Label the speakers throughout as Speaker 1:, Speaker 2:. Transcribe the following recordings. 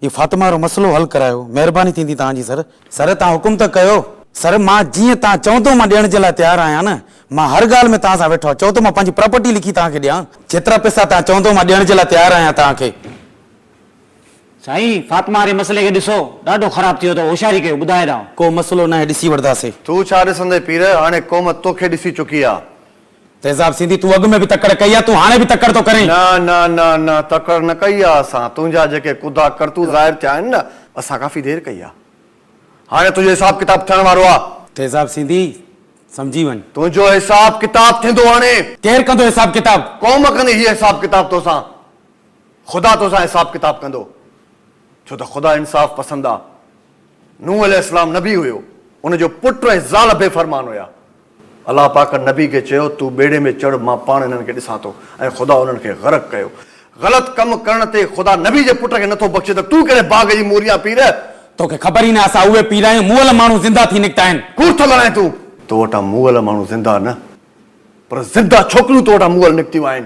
Speaker 1: اي فاطمه وارو مسئلو حل ڪرايو. مهرباني ٿيندي توهان جي سر. سر توهان حڪم ته ڪيو. سر مان جيئن توهان چوندو مان ڏيڻ جي لاء تيار آهيان نه. مان هر ڳالهه ۾ توهان سان ويٺو آهيان. چئو ته مان پنهنجي پراپرٽي لکي توهان کي ڏيان. جيترا پئسا توهان چوندو مان ڏيڻ جي لاء تيار آهيان توهان کي. سائين
Speaker 2: فاطمه واري مسئلي کي ڏسو. ڏاڍو خراب ٿي ويو اٿو. هوشياري ڪيو. ٻڌاء ڏانء. ڪو مسئلو ناهي ڏسي
Speaker 1: وٺداسين. تو ڇا ڏسندين پير
Speaker 3: هاڻي قوم توکي ڏسي چڪي آ. تيزاب سيندي
Speaker 1: تون اڳ ۾ به تڪڙ ڪئي آ تون هاڻي به تڪڙ ٿو ڪرين. نه نه نه نه
Speaker 3: تڪڙ نه ڪئي آ اسان تنهنجا جيڪي ڪودا ڪرتوت ظاهر ٿيا آهن نه اسان ڪافي دير ڪئي آ هاڻي تنهنجو حساب ڪتاب ٿيڻ وارو آ. تيزاب سيندي
Speaker 1: سمجهي وڃ. تنهنجو حساب
Speaker 3: ڪتاب ٿيندو هاڻي. ڪير ڪندو حساب
Speaker 1: ڪتاب. قوم ڪندي هي حساب
Speaker 3: ڪتاب توسان خدا توسان حساب ڪتاب ڪندو ڇو ته خدا انصاف پسند آ نوح عليه السلام نبي هيو ان جو پٽ ۽ زال بي فرمان هيا. الله پاڪ نبي کي چيو، تون ٻيڙي ۾ چڙهه مان پاڻ انهن کي ڏسان ٿو ۽ خدا انهن کي غرق ڪيو. غلط ڪم ڪرڻ تي خدا نبي جي پٽ کي نٿو بخشي ته تون ڪهڙي باغ جي موري آن پير! تو کي خبر ئي
Speaker 1: نه اسان اهي پير آهيون مئل ماڻهو زنده ٿي نڪتا آهن. ڪوڙ ٿو ڳالهائين تون.
Speaker 3: تو وٽان مئل ماڻهو زنده نه پر زنده ڇوڪريون تو وٽان مئل نڪتيون آهن.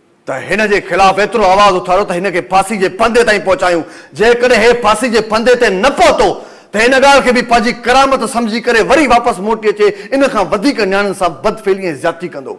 Speaker 3: ته هن جي خلاف ايترو آواز اٿاريو ته هن کي ڦاسي جي ڦندي تائين پهچايون. جيڪڏهن هي ڦاسي جي ڦندي تي نه پهتو ته ان ڳالهه کي به پنهنجي ڪرامت سمجهي ڪري وري واپس موٽي اچي ان کان وڌيڪ نياڻين سان بدفعلي ۽ زيادتي ڪندو.